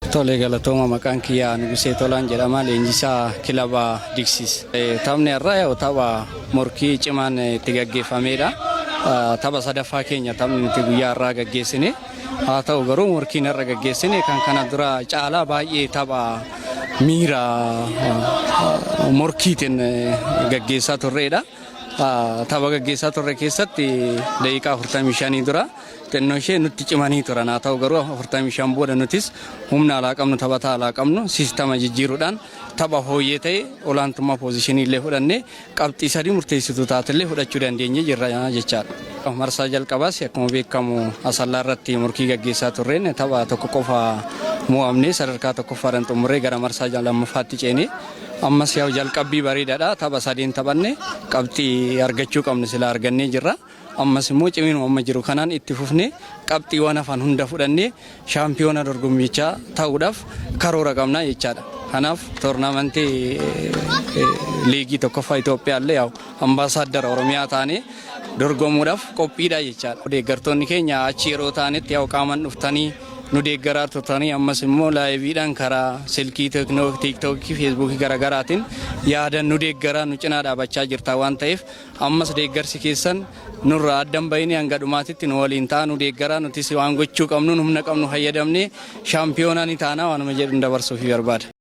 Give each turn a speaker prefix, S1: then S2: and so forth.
S1: Tolee galatooma maqaan kiyyaa Nugusee Tolaan jedhama leenjisaa kilaba Diksiis. Taphni har'aa yoo tapha morkii cimaan itti gaggeeffameedha. Tapha sadaffaa keenya taphni nuti guyyaa har'aa gaggeessine. Haa ta'u garuu morkiin har'a gaggeessine kan kana dura caalaa baay'ee tapha miira morkiitiin gaggeessaa turreedha. Tapha gaggeessaa turre keessatti daqiiqaa 45 dura Xinnoo ishee nutti cimanii turan haa ta'u garuu 45 booda nutis humna alaa qabnu taphataa alaa qabnu siistama jijjiiruudhaan tapha fooyyee ta'e olaantummaa poozishinii illee fudhannee qabxii sadii murteessituu taate illee fudhachuu dandeenye jirra jechaadha. Marsaa jalqabaas akkuma beekamu asallaa irratti morkii gaggeessaa turreen tapha tokko qofa mo'amnee sadarkaa tokkoffaadhaan xumurree gara marsaa lammaffaatti ceenee ammas yaa'u jalqabbii bareedaadha tapha sadeen taphanne qabxii argachuu qabnu sila argannee jirra. Ammas immoo ciminuma amma jiru kanaan itti fufnee qabxiiwwan hafan hunda fudhannee shaampiyoona dorgommiichaa ta'uudhaaf karoora qabna jechaadha. Kanaaf toornaamantii liigii tokkoffaa Itoophiyaallee yaa'u ambaasaaddara Oromiyaa taanee dorgomuudhaaf qophiidha jechaadha. Deeggartoonni keenya achi yeroo taanetti yaa'u qaaman dhuftanii nu deeggaraa turtanii ammas immoo laayiviidhaan karaa silkii tiiktookii feesbuukii garaagaraatiin yaadan nu deeggaraa nu cinaa dhaabachaa jirta waan ta'eef Ammas deeggarsi keessan nurraa adda hin bahini hanga dhumaatitti nu waliin ta'a nu deeggaraa nutis waan gochuu qabnuun humna qabnu fayyadamnee shaampiyoonaa ni taana waanuma jedhun dabarsuufi barbaada.